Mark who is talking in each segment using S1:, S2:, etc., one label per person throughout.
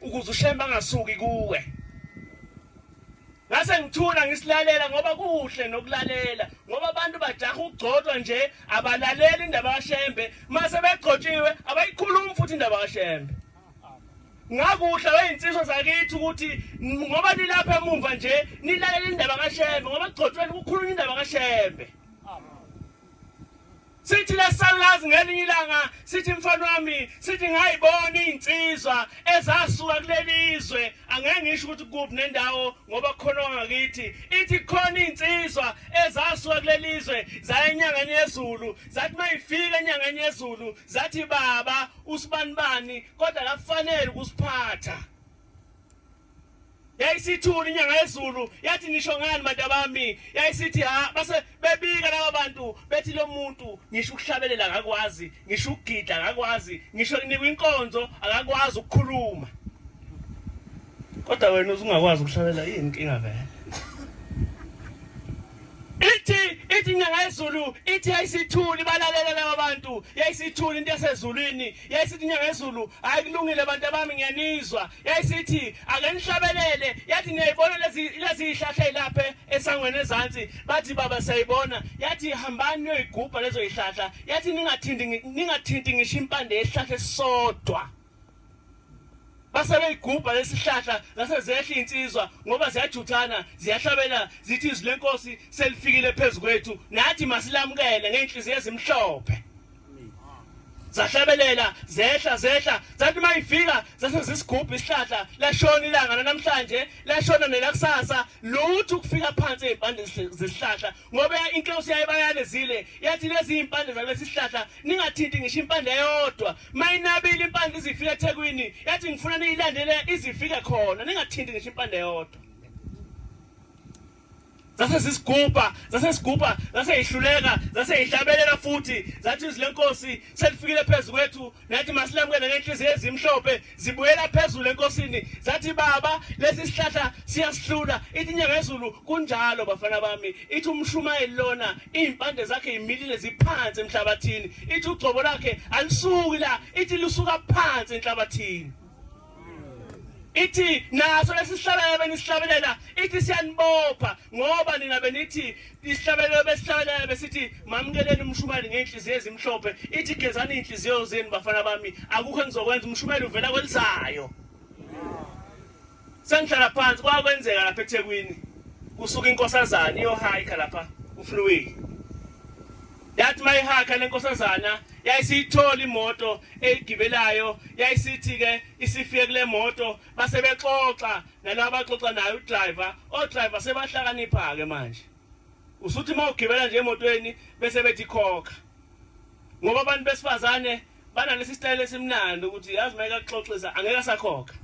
S1: ukuze ushembe angasuki kuwe ngase ngithula ngisilalela ngoba kuhle nokulalela ngoba abantu bajaha ukugcotshwa nje abalaleli indaba kashembe mase begcotshiwe abayikhulumi futhi indaba kashembe ngakuhle weyinsizwa zakithi ukuthi ngoba nilapha emumva nje nilalela indaba kashembe ngoba kugcotshweni kukhulunywa indaba kashembe sithi lesalazi ngelinye ilanga sithi mfana wami sithi ngayibona izinsizwa ezasuka kulelizwe angeke ngisho ukuthi kuphi nendawo ngoba khona ngakithi ithi khona izinsizwa ezasuka kulelizwe zaya enyangeni yezulu zathi mayifika enyangeni yezulu zathi baba usibanibani kodwa kafanele ukusiphatha yayisithuli inyanga yezulu yathi ngisho ngani bantu abami yayisithi ha base bebika laba bantu bethi lo muntu ngisho ukuhlabelela akakwazi ngisho ukugida akakwazi ngisho kunikwa inkonzo akakwazi ukukhuluma kodwa wena uzungakwazi ukuhlabelela yini inkinga vele ithi ithi inyanga yezulu ithi yayisithuli balalela laba bantu yayisithuli into yasezulwini yayisithi inyanga yezulu hayi kulungile bantu abami ngiyanizwa yayisithi ake nihlabelele yathi niyayibona lezi yihlahla ilapha esangweni ezansi bathi baba siyayibona yathi hambani niyoyigubha lezo yihlahla yathi ningathinti ningathinti ngisho impande yesihlahla esisodwa base beyigubha lesihlahla zase zehla insizwa ngoba ziyajuthana ziyahlabela zithi izwi lenkosi selifikile phezukwethu nathi masilamukele ngenhliziyo ezimhlophe zahlabelela zehla zehla zathi uma ifika zase zisigubha isihlahla lashona ilanga lanamhlanje lashona nelakusasa lutho ukufika phansi ezimpande zesihlahla ngoba inkosi yaye bayalezile yathi lezi impande zalesi sihlahla ningathinti ngisho impande eyodwa mayinabile impande izifika eThekwini yathi ngifuna niyilandele izifike khona ningathinti ngisho impande eyodwa zase sisigubha zase sigubha zase yihluleka zase yihlabelela futhi zathi izwi lenkosi selifikile phezu kwethu nathi masilamukele ngenhliziyo ezimhlophe zibuyela phezulu enkosini zathi baba lesi sihlahla siyasihlula ithi inyanga yezulu kunjalo bafana bami ithi umshumayeli lona iy'mpande zakhe yimilile ziphansi emhlabathini ithi ugcobo lakhe alisuki la ithi lusuka phansi enhlabathini ithi naso lesihlabelelo benisihlabelela ithi siyanibopha ngoba nina benithi isihlabelelo besihlabelela besithi mamkeleni umshumayeli ngey'nhliziyo ezimhlophe ithi gezani iy'nhliziyo zenu bafana bami akukho engizokwenza umshumayeli uvela kwelizayo sengihlala phansi kwakwenzeka lapha ethekwini kusuka inkosazane iyohayikha lapha ufluwile yathi mayihakha lenkosazana yayisiyithola imoto eyigibelayo yayisithi ke isifike kule moto base bexoxa nalabo abaxoxa naye udriver odriver sebahlakanipha ke manje usuthi uma ugibela nje emotweni bese bethi khokha ngoba abantu besifazane banalesi sitayela esimnandi ukuthi yazi uma ekaxoxisa angeke asakhokha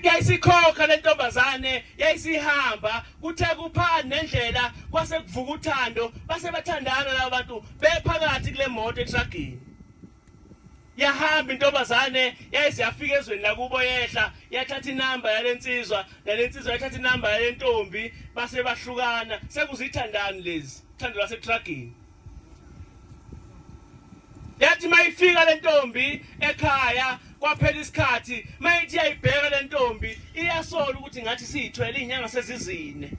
S1: yayisikhokha le ntombazane yayisihamba kuthe kuphani nendlela kwase kuvuka uthando base bathandana laba bantu bephakathi kule moto etragini yahamba intombazane yayise yafika ezweni lakubo yehla yathatha inamba yale nsizwa nale nsizwa yathatha inamba yale ntombi base bahlukana sekuzithandani lezi thando lasetragini yathi mayifika le ntombi ekhaya kwaphela isikhathi mayithi iyayibheka le ntombi iyasola ukuthi ngathi siyithwele iy'nyanga sezizine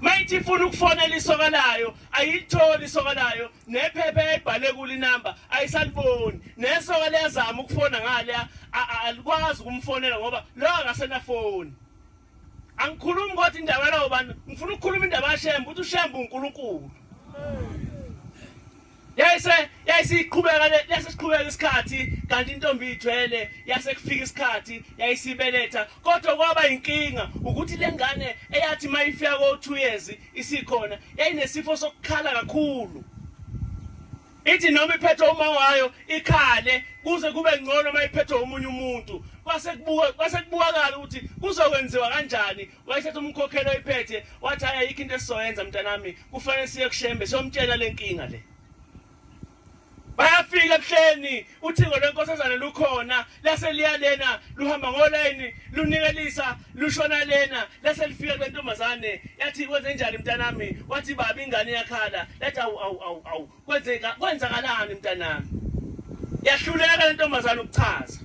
S1: mayithi ifuna ukufonela isoka layo ayilitholi isoka layo nephepha eyayibhale kulo inamba ayisaliboni nesoka liyazama ukufona ngaleya alikwazi ukumfonela ngoba lo akasenafoni angikhulumi kodwa indaba yalawo bantu ngifuna ukukhuluma indaba yashembe ukuthi ushembe unkulunkulu yayise yayisiqhubeka yasesiqhubeka isikhathi kanti intombi ithwele yase kufika isikhathi yayisibeletha kodwa kwaba inkinga ukuthi lengane eyathi mayifika ko 2 years isikhona yayinesifo sokukhala kakhulu ithi noma iphethwe uma wayo ikhale kuze kube ngcono uma iphethwe omunye umuntu kwase kubuka kwase kubukakala ukuthi kuzokwenziwa kanjani wayethatha umkhokhelo iphethe wathi hayi ayikho into esizoyenza mntanami kufanele siye kushembe siyomtshela lenkinga le bayafika ebuhleni uthingo lwenkosazane lukhona lase liya lena luhamba ngolayini lunikelisa lushona lena lase lifika kwentombazane yathi kwenze njani mntanami wathi baba ingane yakhala lathi awu awu awu awu kwenzeka kwenzakalani mntanami yahluleka lentombazane ukuchaza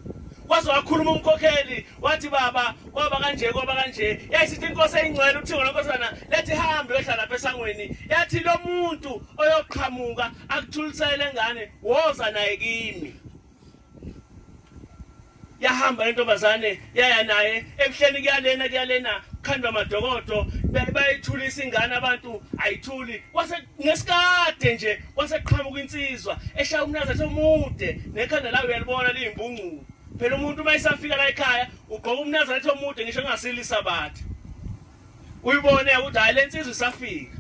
S1: waze wakhuluma umkhokheli wathi baba kwaba kanje kwaba kanje yayisithi inkosi eyingcwele uthingo lenkosana lethi hambe uyohlala lapha esangweni yathi lo muntu oyoqhamuka akuthulisele lengane woza naye kimi yahamba lentombazane yaya naye ebuhleni kuyalena kuyalena kukhandwa amadokodo bayithulisa ingane abantu ayithuli kwase ngesikade nje kwaseqhamuka insizwa eshaya umnaza somude nekhanda lawo uyalibona liyimbungqulu phela umuntu uma isafika la ekhaya ugqoka umnaza lethi omude ngisho engasilisa bathe uyibone ukuthi hayi lensizwe isafika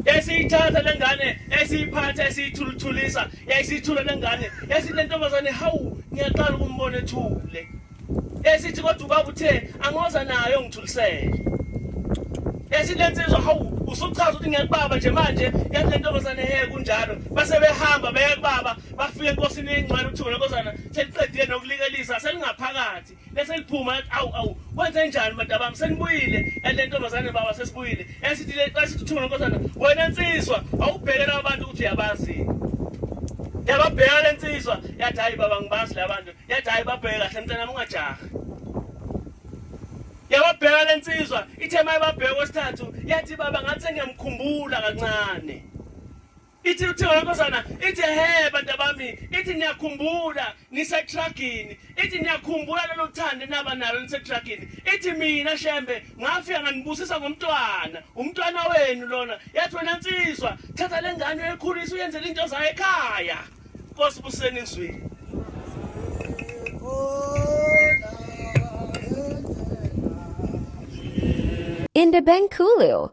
S1: esiyithatha lengane esiyiphatha esiyithuluthulisa yayisithula lengane esithi lentombazane hawu ngiyaqala ukumbona ethule esithi kodwa ubaba uthe angoza nayo ngithulisele esithi lensizwa hawu usuchaza ukuthi ngiyakubaba nje manje yathi lentombazane he kunjalo base behamba beya kubaba bafike enkosini encane uthule kozana seliqedile nokulikelisa selingaphakathi bese liphuma yathi awu awu wenze njani madabami senibuyile and le ntombazane baba sesibuyile esithi le esithi thuma lenkosana wena nsizwa awubheke laba bantu ukuthi uyabazini yababheka le nsizwa yathi hayi baba ngibazi la bantu yathi hayi babheke kahle mntanami ungajaha yababheka le nsizwa ithe mayibabheka kwesithathu yathi baba ngathi sengiyamkhumbula kancane ithi uthiwa yankosana ithi he bantu abami ithi niyakhumbula nisetragini ithi niyakhumbula lelo thande naba nalo nisetragini ithi mina shembe ngafika nganibusisa ngomntwana umntwana wenu lona yathi wena nsizwa thatha le ngane uyekhulisa uyenzela into zayo ekhaya nkosi buseni ngizwile
S2: Independent Coolio